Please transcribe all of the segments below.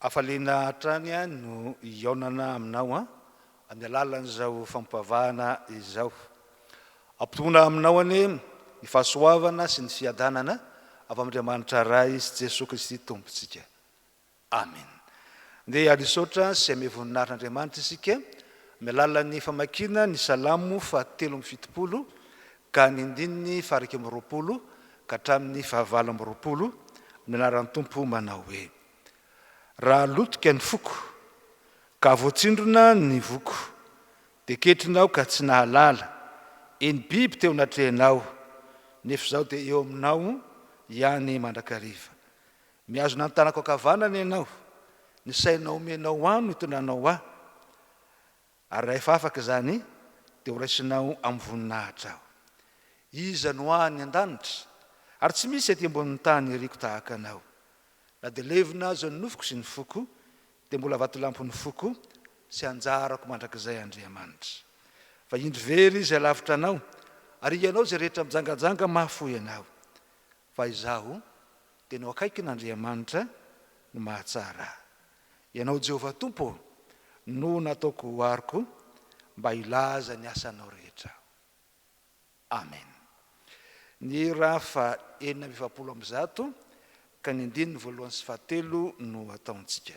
Hafaliana hatrany aho no hihaonana aminao an, amin'ny alalan'izao fampivavahana izao. Ampitohina aminao anie ny fahasoavana sy ny fiadanana avy amin'Andriamanitra Ray sy Jesoa Kristy Tompontsika. Amen. Ndeha hanisaotra sy hamehy voninarin'Andriamanitra isika amin'ny alalan'ny famakiana ny Salamo fahatelo amby fitopolo ka ny ndininy faha iraika amby roapolo ka hatramin'ny faha valo amby roapolo, amin'ny anaran'ny Tompo manao hoe. Raha lotika ny foko, ka voatsindrona ny voko, dia ketrinao ka tsy nahalala, eny biby teo natrehinao, nefa izao dia eo aminao ihany mandrakariva. Mihazona ny tanako ankavanana ianao, ny saina omenao ahy no itondranao ahy, ary rahefa afaka izany dia horaisinao amin'ny voninahitra aho. Iza no ahy any an-danitra? Ary tsy misy ety ambonin'ny tany iriko tahaka anao. Na dia levona aza ny nofoko sy ny foko, dia mbola vatolampon'ny foko sy anjarako mandrakizay Andriamanitra. Fa indro very izay lavitra anao, ary ianao izay rehetra mijangajanga mahafoy anao. Fa izaho, dia no akaikin'Andriamanitra no mahatsara ahy. Ianao Jehovah Tompo ô, no nataoko ho ariko, mba hilaza ny asanao rehetra aho. Amen. Ny ra faha enina amby efapolo amby zato ka ny andininy voalohany sy fahatelo no ataontsika.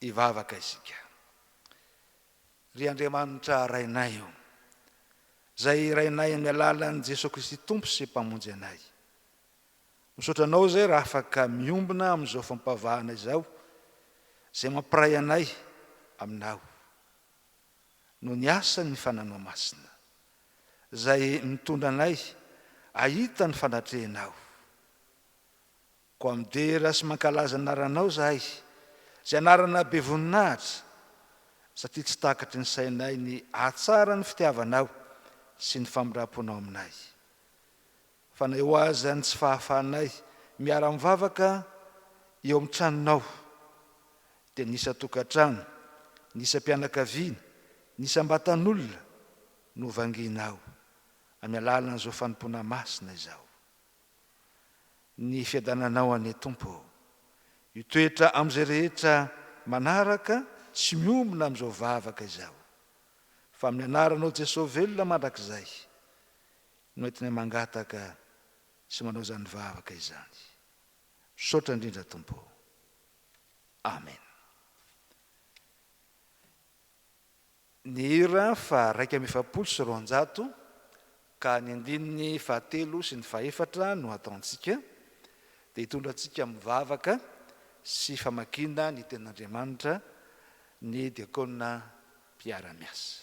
Hivavaka isika. Ry Andriamanitra Rainay ô, Izay Rainay amin'ny alalan'i Jesoa Kristy Tompo sy Mpamonjy anay. Misaotra Anao izay raha afaka miombona amin'izao fampavahana izao, izay mampiray anay Aminao. no ny asan' ny Fananao Masina, izay mitondra anay ahita ny fanatrehanao. Koa midera sy mankalaza ny anaranao izahay, izay anarana be voninahitra, satria tsy takatry ny sainay ny hahatsara ny fitiavanao sy ny famindram-ponao aminay. Fa na eo aza ny tsy fahafahanay miara-mivavaka eo amin'ny tranonao, dia ny isan-tokantrano, ny isam-pianakaviana, ny isam-batan'olona no vangianao amin'ny alalan'izao fanompoana masina izao. Ny fiadananao anie Tompo ô! Io toetra amin'izay rehetra manaraka sy miombona amin'izao vavaka izao. Fa amin'ny anaranao Jesoa velona mandrakizay, no entinay mangataka sy manao izany vavaka izany. Misaotra indrindra Tompo o. Amen. Ny hira faha iraika amby efapolo sy roanjato ka ny andininy faha telo sy ny faha efatra no ataontsika dia hitondra antsika amin'ny vavaka sy famakiana ny tenin'Andriamanitra ny diakona mpiara-miasa.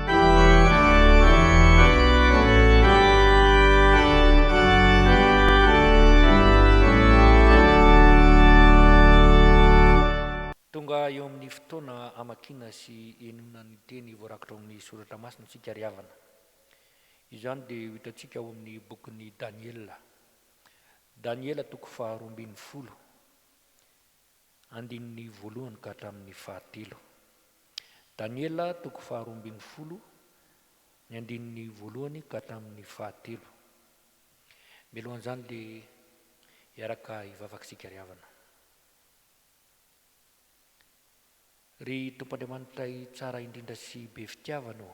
Tonga eo amin'ny fotoana hamakiana sy henoina ny teny voarakitra ao amin'ny Soratra Masina isika ry havana. Izany dia ho hitantsika ao amin'ny bokin'i Daniela. Daniela toko faharoa ambin'ny folo. Andininy voalohany ka hatramin'ny fahatelo. Daniela toko faharoa ambin'ny folo, ny andininy voalohany ka hatramin'ny fahatelo. Mialohan'izany dia hiaraka hivavaka isika ry havana. Ry Tompo Andriamanitray tsara indrindra sy be fitiavana ô!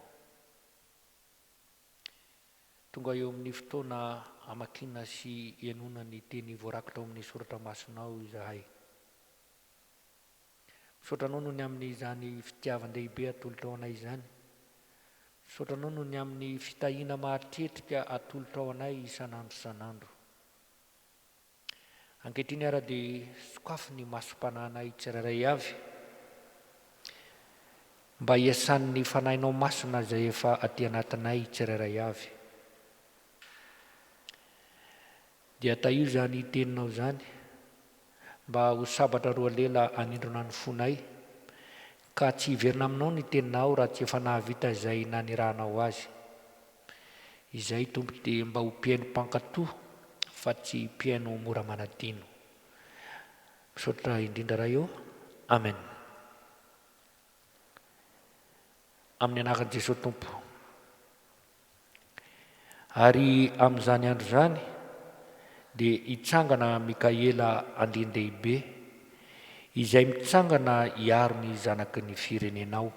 Tonga eo amin'ny fotoana hamakiana sy hihainoana ny teny voarakitra ao amin'ny soratra masinao izahay. Misaotra anao noho ny amin'izany fitiavan-dehibe atolotrao anay izany. Misaotra anao noho ny amin'ny fitahiana mahatretrika atolotrao anay isan'andro isan'andro. Ankehitriny ara dia sokafy ny masom-panahinay tsirairay avy, mba hiasan'ny Fanahinao Masina izay efa aty anatinay tsirairay avy. Dia tahio izany Teninao izany, mba ho sabatra roa lela hanindrona ny fonay, Ka tsy hiverina aminao ny teninao raha tsy efa nahavita izay nanirahanao azy. Izay Tompo dia mba ho mpihaino mpankato fa tsy mpihaino mora manadino. Misaotra indrindra Ray ô. Amen. Amin'ny anaran'i Jesoa Tompo. Ary amin'izany andro izany, dia hitsangana Mikaela andrian-dehibe, izay mitsangana hiaro ny zanaky ny firenenao.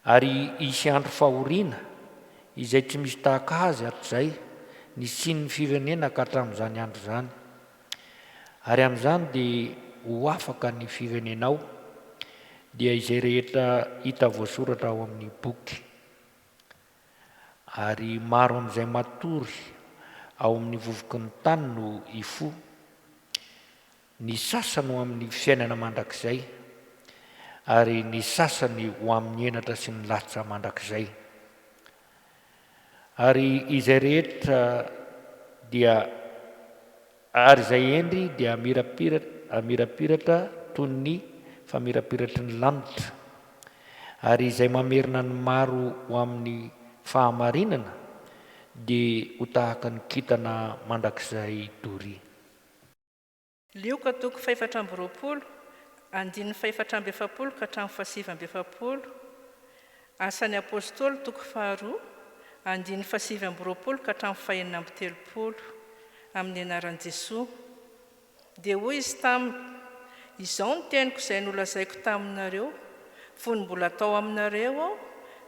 Ary hisy andro fahoriana, izay tsy misy tahaka azy hatrizay nisian'ny firenena ka hatramin'izany andro izany. Ary amin'izany dia ho afaka ny firenenao, dia izay rehetra hita voasoratra ao amin'ny boky. Ary maro amin'izay matory ao amin'ny vovoky ny tany no hifoha, ny sasany ho amin'ny fiainana mandrakizay, ary ny sasany ho amin'ny henatra sy ny lahatra mandrakizay. Ary izay rehetra dia Ary izay hendry dia hamirapiratra toy ny famirapiratry ny lanitra, ary izay mamerina ny maro ho amin'ny fahamarinana dia ho tahaka ny kintana mandrakizay doria. Lioka toko fahefatra amby roapolo, andininy fahefatra amby efapolo ka hatramin'ny fahasivy amby efapolo. Asan'ny Apôstôly, toko faharoa, andininy fahasivy amby roapolo ka hatramin'ny fahenina amby telopolo, Amin'ny anaran'i Jesoa. Dia hoy Izy taminy, Izao ny teniko izay nolazaiko taminareo, fony mbola tao aminareo Aho,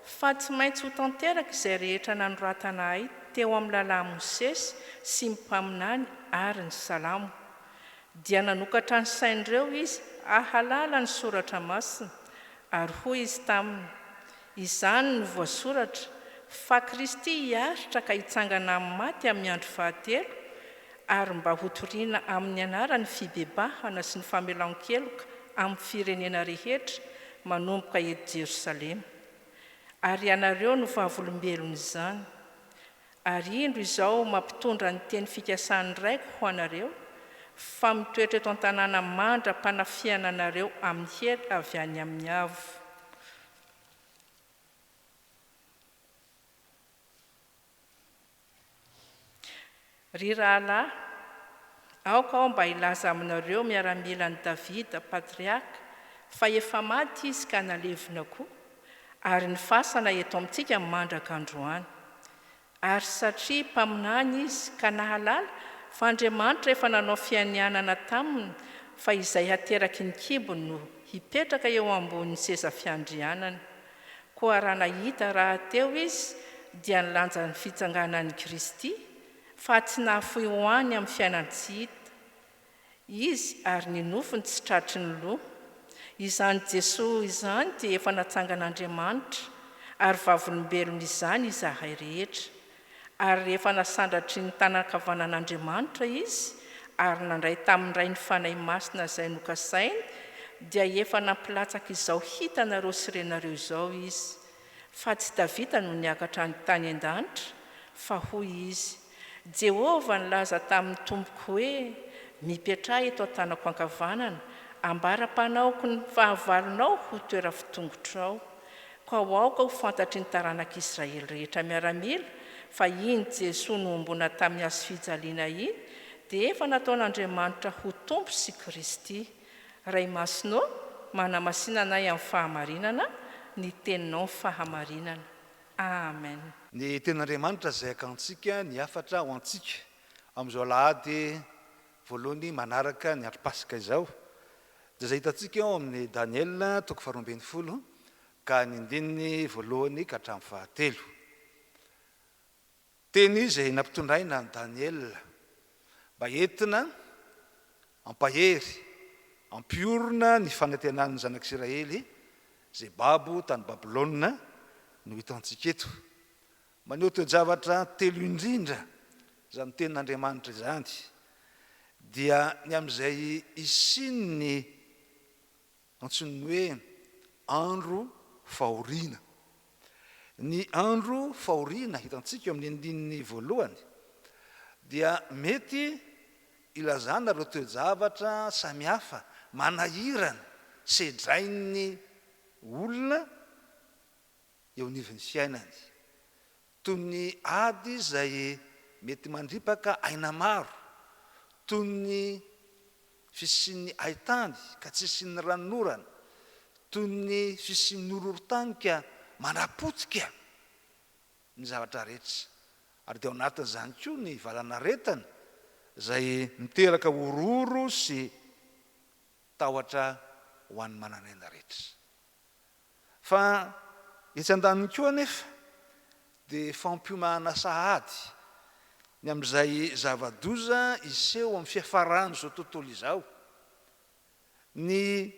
fa tsy maintsy ho tanteraka izay rehetra nanoratana Ahy teo amin'ny Lalàn'i Mosesy sy ny Mpaminany ary ny Salamo. Dia nanokatra ny sain'ireo izy hahalala ny Soratra Masina, ary hoy izy taminy, Izany no voasoratra, fa Kristy hiaritra ka hitsangana amin'ny maty amin'ny andro fahatelo, ary mba hotoriana amin'ny anarany fibebahana sy ny famelan-keloka amin'ny firenena rehetra, manomboka eto Jerosalema. Ary ianareo no vavolombelon'izany. Ary indro izao mampitondra ny teny fikasan'ny Raiko ho anareo, fa mitoetra eto an-tanàna mandra-panafihana anareo amin'ny hery avy any amin'ny Avo. Ry rahalahy, aoka aho mba hilaza aminareo miaramila an'i Davida, patriarka, fa efa maty izy ka nalevina koa, ary ny fasana eto amintsika mandraka androany. Ary satria mpaminany izy ka nahalala fa Andriamanitra efa nanao fianianana taminy fa izay hateraky ny kibony no hipetraka eo ambonin'ny seza fiandrianany, koa raha nahita rahateo izy dia nilanja ny fitsanganan'i Kristy, faha tsy nahafoy ho any amin'ny fiainan-tsy hita. Izy ary ny nofony tsy tratry ny loha. Izany Jesoa izany dia efa natsangan'Andriamanitra ary vavolombelony izany izahay rehetra. Ary rehefa nasandratry ny tanan-kavanan'Andriamanitra Izy ary nandray tamin'ny Ray ny Fanahy Masina izay nokasainy dia efa nampilatsaka izao hitanareo sy renareo izao Izy. Fa tsy tavita no niakatra any tany an-danitra fa hoy Izy, Jehovah nilaza tamin'ny Tompoko hoe, Mipetraha eto an-tanako ankavanana, ambara-panaoko ny fahavalonao ho toeram-pitongotronao. Koa aoka ho fantatry ny taranak'Israely rehetra miaramila fa iny Jesoa nohomboana tamin'ny hazofijaliana iny dia efa nataon'Andriamanitra ho Tompo sy Kristy. Ray Masina ô, manamasina anay amin'ny fahamarinana, ny Teninao ny fahamarinana. Amen. Ny Tenin'Andriamanitra izay akantsika ny hafatra ho antsika amin'izao Alahady voalohany manaraka ny andro Paska izao, dia izay hitantsika ao amin'ny Daniela toko faharoa ambin'ny folo ka ny andininy voalohany ka hatramin'ny fahatelo. Teny izay nampitondraina an'i Daniela mba entina hampahery, hampiorina ny fanantenan'ny zanak'Isiraely izay babo tany Babylona no hitantsika eto. Maneho toe-javatra telo indrindra izany tenin'Andriamanitra izany, dia ny amin'izay hisian'ny. Antsoin'ny hoe andro fahoriana. Ny andro fahoriana hitantsika eo amin'ny andininy voalohany dia mety ilazana ireo toe-javatra samihafa manahirana sedrain'ny olona eo anivon'ny fiainany Toy ny ady izay mety mandripaka aina maro, toy ny fisian'ny haitany ka tsy hisian'ny ranonorana, toy ny fisian'ny horohorontany ka manapotika ny zavatra rehetra, ary dia ao anatin'izany koa ny valanaretina izay miteraka horohoro sy tahotra ho an'ny manan'aina rehetra. Fa etsy andaniny koa anefa dia fampiomana sahady ny amin'izay zava-doza hiseho amin'ny fiafaran'izao tontolo izao, ny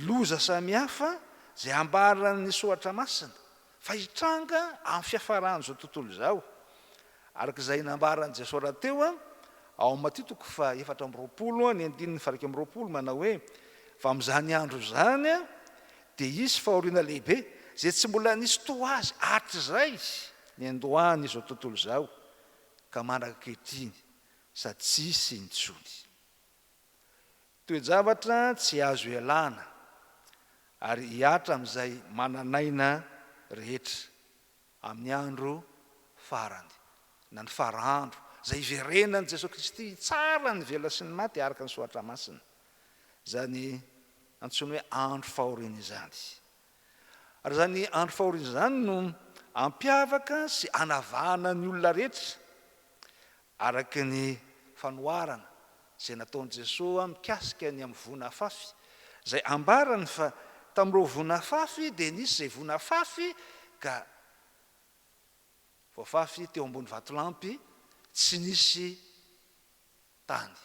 loza samihafa izay ambaran'ny soratra masina fa hitranga amin'ny fiafaran'izao tontolo izao, Araka izay nambaran'i Jesoa rahateo, ao amin'ny Matio toko faha-efatra amby roapolo, ny andininy faha-iraika amby roapolo, manao hoe, Fa amin'izany andro izany dia hisy fahoriana lehibe, izay tsy mbola nisy toa azy hatrizay niandohan'izao tontolo izao ka mandraka ankehitriny, sady tsy hisy intsony. Toe-javatra tsy azo ialana, ary hihatra amin'izay manan'aina rehetra. Amin'ny andro farany, na ny fara andro, izay hiverenan'i Jesoa Kristy hitsara ny velona sy ny maty araka ny Soratra Masina, izany antsoina hoe andro fahoriana izany. Ary izany andro fahoriana izany no hampiavaka sy hanavahana ny olona rehetra, Araka ny fanoharana izay nataon'i Jesoa mikasika ny amin'ny voina afafy, izay ambarany fa tamin'ireo voina afafy dia nisy izay voina afafy ka voafafy teo ambony vatolampy tsy nisy tany.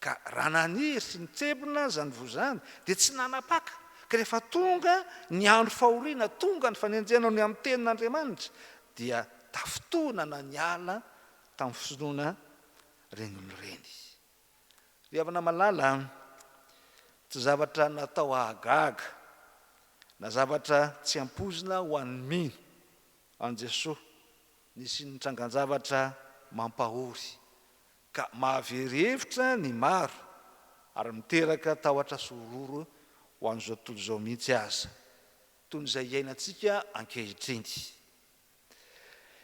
Ka raha naniry sy nitsebona aza ny voa izany, dia tsy nanapaka, ka rehefa tonga ny andro fahoriana, tonga ny fanenjehana ny amin'ny tenin' Andriamanitra, dia tafintohinana niala tamin'ny fisotroana ireny olona ireny. Ry havana malala, tsy zavatra natao hahagaga, na zavatra tsy ampoizina ho an'ny mino an'i Jesoa Nisy nitrangan-javatra mampahory ka mahavery hevitra ny maro ary miteraka tahotra sy horohoro ho an'izao tontolo izao mihitsy aza, toy ny izay iainantsika ankehitriny.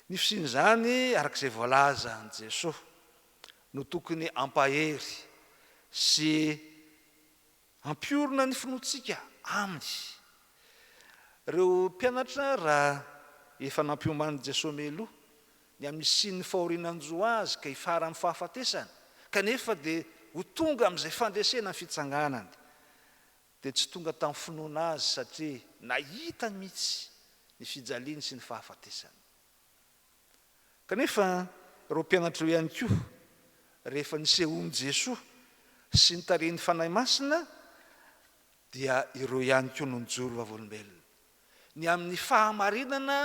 Ny fisian'izany, araka izay voalazan'i Jesoa, no tokony hampahery sy Ampiorina ny finoantsika Aminy. Ireo mpianatra, raha efa nampiomanin'i Jesoa mialoha, ny amin'ny hisian'ny fahoriana hanjo Azy ka hifara amin'ny fahafatesany, kanefa dia ho tonga amin'izay fandresena ny fitsanganany, dia tsy tonga tamin'ny finoana Azy satria nahita mihitsy ny fijaliany sy ny fahafatesany. Kanefa ireo mpianatra ireo ihany koa, rehefa nisehoan'i Jesoa sy ny tarehin'ny Fanahy Masina, dia ireo ihany koa no nijoro vavolombelona, ny amin'ny fahamarinana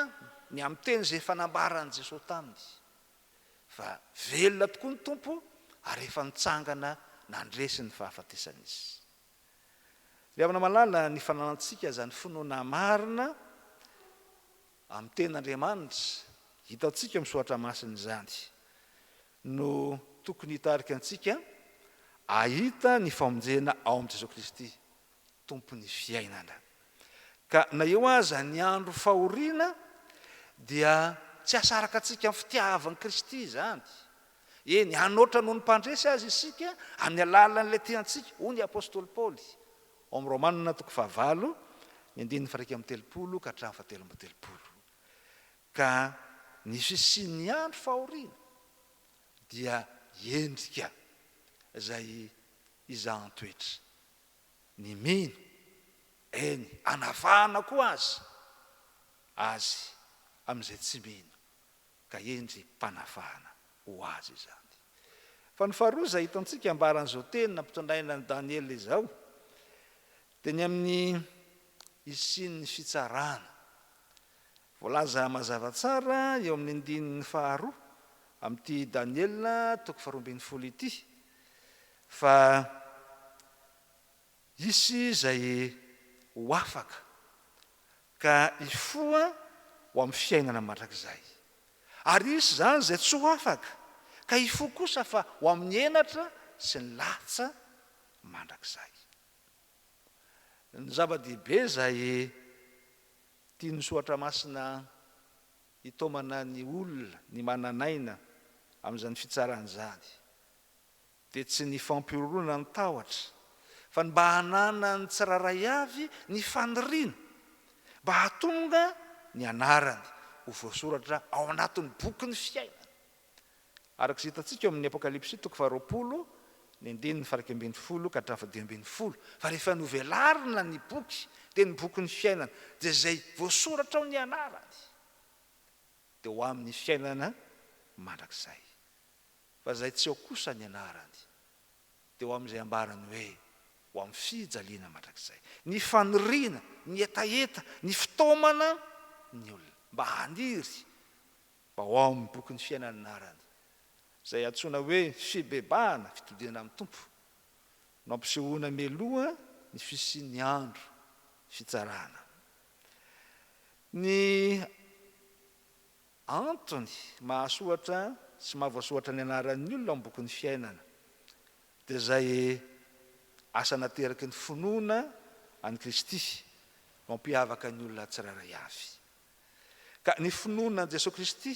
ny amin'ny teny izay efa nambaran'i Jesoa taminy, fa velona tokoa ny Tompo ary efa nitsangana nandresy ny fahafatesana Izy. Ry havana malala, ny fananantsika izany finoana marina, Amin'ny Teny Andriamanitra, hitantsika amin'ny Soratra Masina izany, no tokony hitarika antsika hahita ny famonjena ao amin'i Jesoa Kristy, Tompon'ny fiainana. Ka na eo aza ny andro fahoriana, dia tsy hasaraka antsika amin'ny fitiavan'i Kristy izany. Eny, hanoatra noho ny mpandresy aza isika amin'ny alalan'ilay tiantsika, hoy ny apostoly Paoly. Ao amin'ny Romana toko fahavalo, ny andininy faha-iraika amby telopolo ka hatramin'ny fahatelo amby telopolo, ka ny fisian'ny andro fahoriana dia endrika izay izahan-toetra, ny mino, eny, anavahana koa aza azy amin'izay tsy mino, Ka hendry mpanavahana ho azy izany. Fa ny faharoa izay hitantsika ambaran'izao teny nampitondraina an'i Daniela izao dia ny amin'ny hisian'ny fitsarana. Voalaza mazava tsara eo amin'ny andininy faharoa amin'ity Daniela toko faharoa ambin'ny folo ity fa Hisy izay ho afaka ka hifoha ho amin'ny fiainana mandrakizay, ary hisy izany izay tsy ho afaka ka hifoha kosa fa ho amin'ny henatra sy ny latsa mandrakizay. Ny zava-dehibe izay tian'ny soratra masina hitaomana ny olona ny manan'aina amin'izany fitsarana izany dia tsy ny fampihorohoroana no tahotra fa ny mba hananan'ny tsirairay avy ny faniriana mba hahatonga ny anarany ho voasoratra ao anatin'ny bokin'ny fiainana. Araka izay hitantsika ao amin'ny Apokalypsy toko faharoapolo ny andininy faha-iraika ambin'ny folo ka hatramin'ny faha-dimy ambin'ny folo fa rehefa novelarina ny boky dia ny bokin'ny fiainana dia izay voasoratra ao ny anarany dia ho amin'ny fiainana mandrakizay. Fa izay tsy ao kosa ny anarany, dia ho amin'izay ambarany hoe, Ho amin'ny fijaliana mandrakizay. Ny faniriana, ny hetaheta, ny fitaomana ny olona mba haniry mba ho ao amin'ny bokin'ny fiaina ny anarany, izay antsoina hoe fibebahana, fitodihana amin'ny Tompo, no ampisehoana mialoha ny fisian'ny andro fitsarana. Ny. Antony mahasoatra sy mahavoasoatra ny anaran'ny olona ao amin'ny bokin'ny fiainana dia izay asa nateraky ny finoana an'i Kristy mampiavaka ny olona tsirairay avy. Ka ny finoana an'i Jesoa Kristy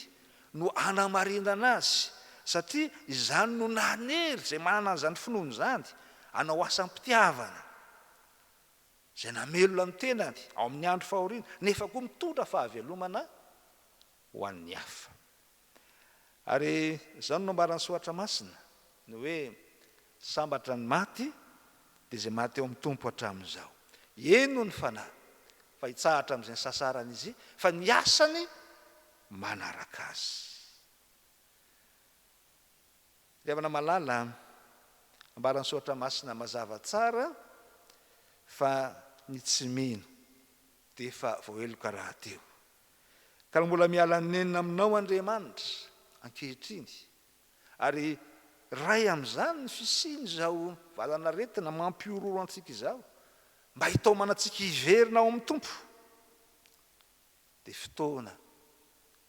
no hanamarinana azy satria izany no nanery izay manana an'izany finoana izany hanao asam-pitiavana. izay namelona ny tenany ao amin'ny andro fahoriana, nefa koa mitondra fahavelomana ho an'ny hafa. Ary izany no nambaran'ny Soratra Masina, ny hoe, Sambatra ny maty, dia izay maty ao amin'ny Tompo hatramin'izao. Eny hoy ny fanahy, fa hitsahatra amin'izay nisasarany izy, fa ny asany manaraka azy. Ry havana malala, ambaran'ny soratra masina mazava tsara fa ny tsy mino dia efa voaheloka rahateo. Ka raha mbola miala nenina aminao Andriamanitra ankehitriny ary ray amin'izany ny fisian'izao valan'aretina mampihorohoro antsika izao mba hitaomanantsika hiverina ao amin'ny Tompo dia fotoana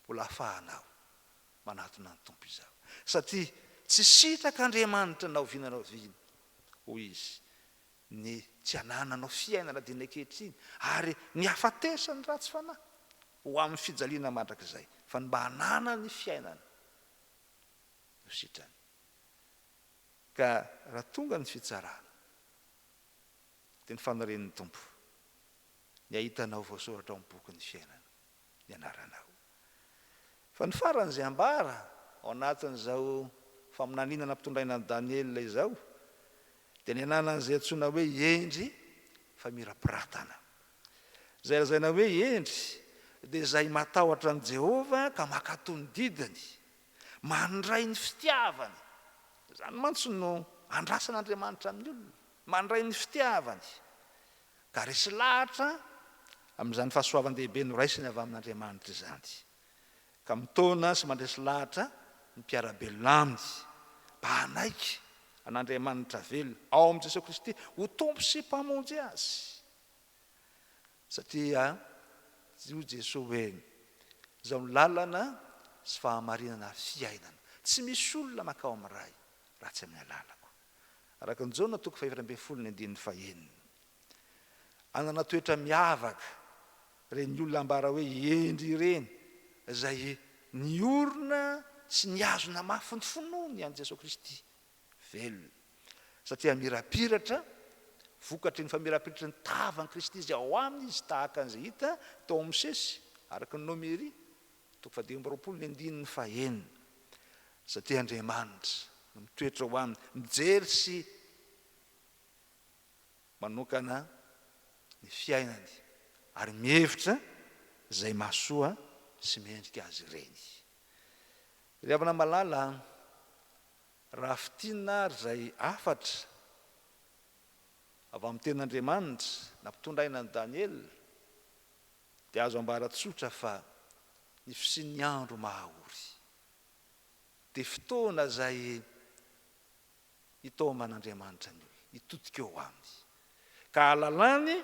mbola afahanao Manatona ny Tompo izaho, satria tsy sitraka Andriamanitra na oviana na oviana, hoy izy, ny tsy anananao fiainana diny ankehitriny, ary ny hafatesan'ny ratsy fanahy ho amin'ny fijaliana mandrakizay, fa ny mba hananany fiainana no sitrany. Ka raha tonga ny fitsarana, dia ny fanirian'ny Tompo ny hahita anao voasoratra ao amin'ny bokin'ny fiainana. ny anaranao. Fa ny faran'izay ambara ao anatin'izao faminaniana nampitondraina an'i Daniela izao dia ny ananan'izay antsoina hoe Hendry famirapiratana. Izay lazaina hoe hendry dia izay matahotra an'i Jehovah ka mankato ny didiny, mandray ny fitiavany. Izany mantsy no andrasan'Andriamanitra amin'ny olona, mandray ny fitiavany. ka resy lahatra amin'izany fahasoavan-dehibe noraisiny avy amin'Andriamanitra izany, ka mitaona sy mandresy lahatra ny mpiara-belona aminy, mba hanaiky an'Andriamanitra velona ao amin'i Jesoa Kristy ho Tompo sy Mpamonjy azy. Satria hoy Jesoa hoe, Izaho no lalana sy fahamarinana ary fiainana, tsy misy olona mankao amin'ny Ray raha tsy amin'ny alalako. araka ny Jaona toko fahefatra ambin'ny folo ny andininy fahenina. Anana toetra miavaka ireny olona ambara hoe hendry ireny, izay niorina sy nihazona mafy ny finoany an'i Jesoa Kristy velona, satria mirapiratra, vokatry ny famirapiratry ny tavan'i Kristy izay ao aminy izy, tahaka an'izay hita tao amin'ny Mosesy, araka ny Nomery Toko fahadimy amby roapolo ny andininy fahenina, Satria Andriamanitra no mitoetra ho aminy, mijery sy manokana ny fiainany ary mihevitra izay mahasoa sy mendrika azy ireny. Ry havana malala, raha fintinina ary izay hafatra avy amin'ny tenin'Andriamanitra nampitondra aina an'i Daniela, Dia azo ambara tsotra fa ny fisian'ny andro mahaory dia fotoana izay itaoman'Andriamanitra ny olona, hitodika eo Aminy, ka hahalalany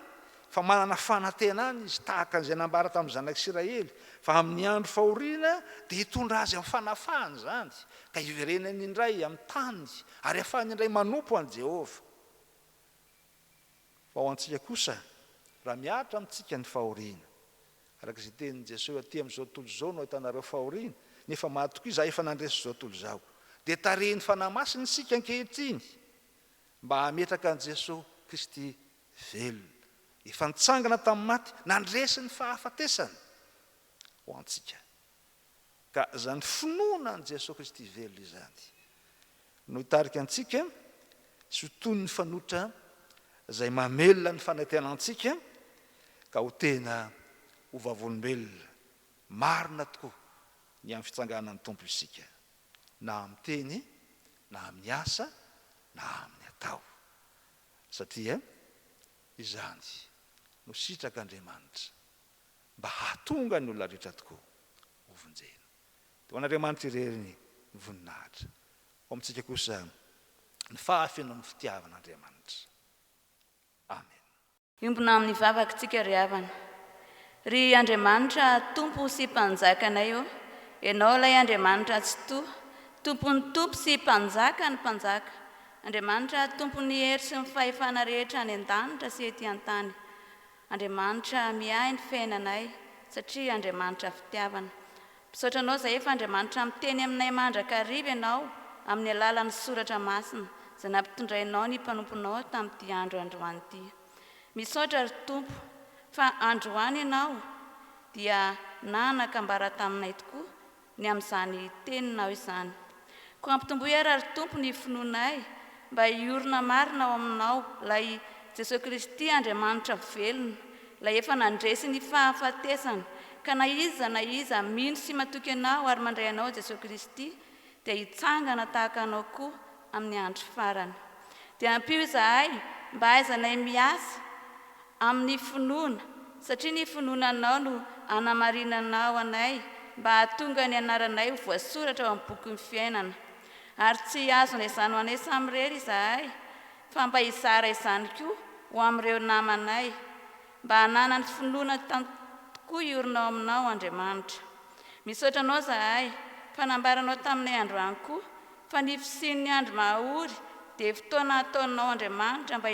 fa manana fanantenana Izy, tahaka an'izay nambara tamin'ny Zanak'Isiraely, fa amin'ny andro fahoriana dia hitondra azy amin'ny fanafahana izany, ka hiverenany indray amin'ny tany, ary hahafahany indray manompo an'i Jehovah. Fa ho antsika kosa, raha mihatra amintsika ny fahoriana, araka izay tenin'i Jesoa hoe, Aty amin'izao tontolo izao no ahitanareo fahoriana, nefa matokia Izaho efa nandresy izao tontolo izao. Dia tarihin'ny Fanahy Masina isika ankehitriny mba hametraka an'i Jesoa Kristy velona, efa nitsangana tamin'ny maty, nandresy ny fahafatesana ho antsika. Ka izany finoana an'i Jesoa Kristy velona izany no hitarika antsika tsy ho toy ny fanoitra izay mamelona ny fanetena antsika ka ho tena ho vavolombelona marina tokoa ny amin'ny fitsanganan'ny Tompo isika, na amin'ny teny, na amin'ny asa, na amin'ny atao. Satria izany no sitrak'Andriamanitra. mba hahatonga ny olona rehetra tokoa hovonjena. Dia ho an'Andriamanitra irery ny voninahitra, ho amintsika kosa ny fahafenoan'ny fitiavan'Andriamanitra. Amen. Miombona amin'ny vavaka tsika ry havana. Ry Andriamanitra Tompo sy Mpanjakanay ô, Ianao ilay Andriamanitra Tsitoha, Tompon'ny Tompo sy Mpanjakan'ny Mpanjaka, Andriamanitra Tompon'ny hery sy ny fahefana rehetra any an-danitra sy ety an-tany. Andriamanitra miahy ny fiainanay satria Andriamanitra fitiavana. Misaotra Anao izay efa Andriamanitra miteny aminay mandrakariva Ianao amin'ny alalan'ny soratra masina izay nampitondrainao ny mpanomponao tamin'ity andro androany ity. Misaotra ry Tompo fa androany Ianao dia nanakambara taminay tokoa ny amin'izany teninao izany. Koa ampitomboy ary ry Tompo ny finoanay mba hiorina marina ao aminao, ilay Jesoa Kristy Andriamanitra velona, ilay efa nandresy ny fahafatesana, ka na iza na iza mino sy matoky anao ary mandray anao Jesoa Kristy dia hitsangana tahaka anao koa amin'ny andro farany. Dia ampio izahay mba hahaizanay miasa amin'ny finoana, satria ny finoananao no anamarinanao anay mba hahatonga ny anaranay ho voasoratra ao amin'ny bokin'ny fiainana. Ary tsy hihazo anay izany ho anay samy irery izahay, fa mba hizara izany koa ho amin'ireo namanay, mba hananany finoana tantn tokoa hiorina ao aminao, Andriamanitra. Misaotra anao izahay, fa nambaranao taminay androany koa Fa ny fisian'ny andro maha-ory dia fotoana ataonao Andriamanitra mba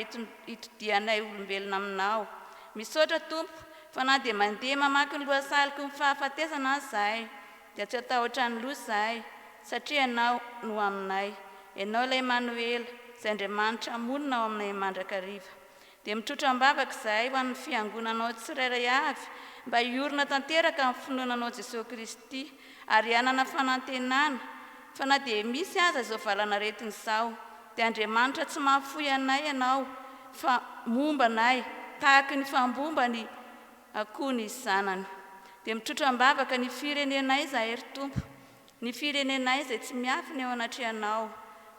hitodihanay olombelona aminao. Misaotra Tompo fa na dia mandeha mamaky ny lohasaliko ny fahafatesana aza zahay dia tsy hatahotra ny loza zahay satria Ianao no aminay. Ianao ilay Manoela, izay Andriamanitra monina ao aminay mandrakariva. Dia mitrotra am-bavaka izahay ho an'ny Fiangonanao tsirairay avy mba hiorina tanteraka amin'ny finoana anao Jesosy Kristy ary hanana fanantenana fa na dia misy aza izao valan'aretina izao dia Andriamanitra tsy mahafoy anay Ianao fa momba anay tahaky ny fambomba ny akoho ny zanany. Dia mitrotra am-bavaka ny firenenay izahay ry Tompo Ny firenenay izay tsy miafina eo anatrehanao.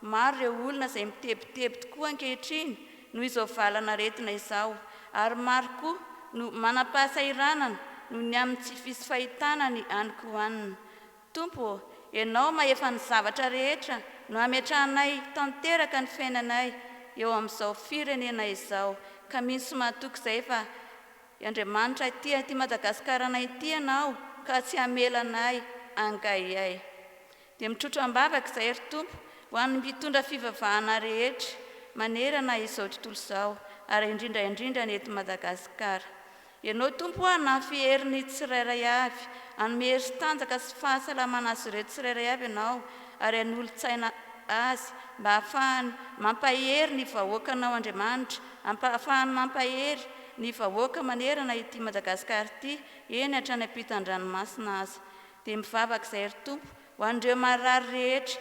Maro ireo olona izay mitebiteby tokoa ankehitriny noho izao valan'aretina izao, ary maro koa no manam-pahasahiranana noho ny amin'ny tsy fisy fahitana ny any Quw'an. Tompo ô, Ianao mahefa ny zavatra rehetra no ametrahanay tanteraka ny fiainanay eo amin'izao firenena izao, ka mino sy matoky izay fa I Andriamanitra ay tia ity Madagascar anay ity ianao ka tsy hamela anay angaiay. Dia mitrotro ambavaka izahay ry Tompo ho an'ny mpitondra fivavahana rehetra manerana izao tontolo izao ary indrindra indrindra ny eto Madagascar. Ianao Tompo o hanafy hery ny tsirairay avy, hanome hery sy tanjaka sy fahasalamana azy ireo tsirairay avy ianao ary hanolotsaina azy mba hahafahany mampahery ny vahoakanao Andriamanitra ampahafahany mampahery ny vahoaka manerana ity Madagasikara ity eny hatrany ampitan'ny ranomasina aza dia mivavaka izay ry Tompo ho an'ireo marary rehetra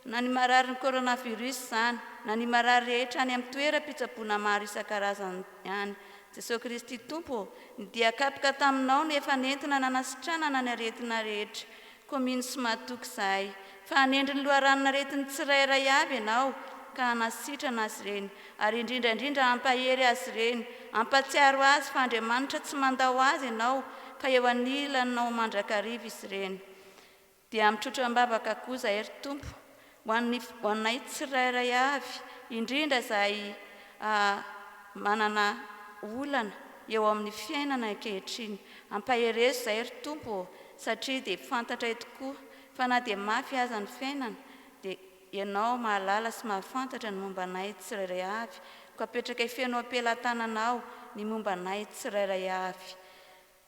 na ny mararin'ny coronavirus izany na ny marary rehetra any amin'ny toeram-pitsaboana maro isan-karazany any Jesoa Kristy Tompo ô ny dia kapoka taminao no efa nentina nanasitranana ny aretina rehetra Commune sy mahatoky izahay fa hanendry ny loharanon'aretin'ny tsirairay avy ianao ka hanasitrana azy ireny ary indrindra indrindra hampahery azy ireny, hampatsiaro azy fa Andriamanitra tsy mandao azy ianao fa eo anilanao mandrakariva izy ireny. Dia mitrotra am-bavaka koa izahay ry Tompo Ho an'ny, ho anay tsirairay avy, indrindra izay manana olana eo amin'ny fiainana ankehitriny, ampaherezo izay ry Tompo ô, satria dia fantatray tokoa fa na dia mafy aza ny fiainana dia Ianao mahalala sy mahafantatra ny momba anay tsirairay avy, koa apetrakay feno am-pelatananao ny momba anay tsirairay avy.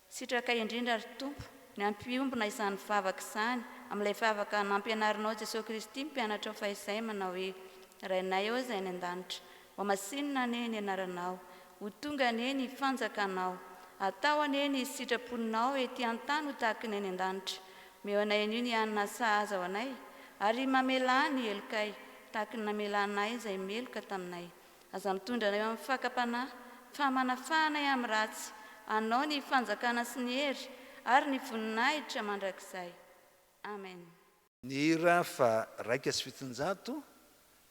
Sitraka indrindra ry Tompo ny hampiombona izany vavaka izany amin'ilay vavaka nampianarinao Jesoa Kristy ny mpianatrao fahizay manao hoe, Rainay ô izay any an-danitra, ho masinina anie ny anaranao, ho tonga anie ny fanjakanao, atao anie ny sitraponao ety an-tany ho tahaka ny any an-danitra, omeo anay anio ny hanina sahaza ho anay, ary mamelà ny helokay tahaka ny namelanay izay meloka taminay, Aza mitondra anay eo amin'ny fakam-panahy, fa manafaha anay amin'ny ratsy. Anao ny fanjakana sy ny hery ary ny voninahitra mandrakizay. Amena. Ny hira faharaika sy fitonjato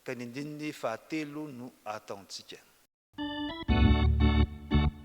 ka ny andininy fahatelo no ataontsika.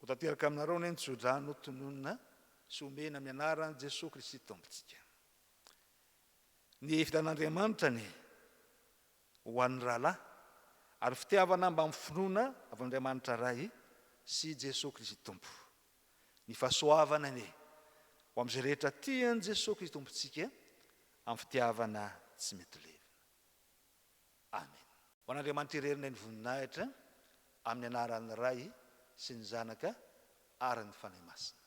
Hotanteraka aminareo anie ny tsodrano tononina sy omena amin'ny anaran'i Jesoa Kristy Tompontsika. Ny hevitr'Andriamanitra anie. ho an'ny rahalahy, ary fitiavana mbamin'ny finoana avy amin'Andriamanitra Ray sy i Jesoa Kristy Tompo. Ny fahasoavana anie ho amin'izay rehetra tia an'i Jesoa Kristy Tompontsika amin'ny fitiavana tsy mety levona. Amena. Ho an'Andriamanitra irery indray ny voninahitra, amin'ny anaran'ny Ray sy ny Zanaka ary ny Fanahy Masina.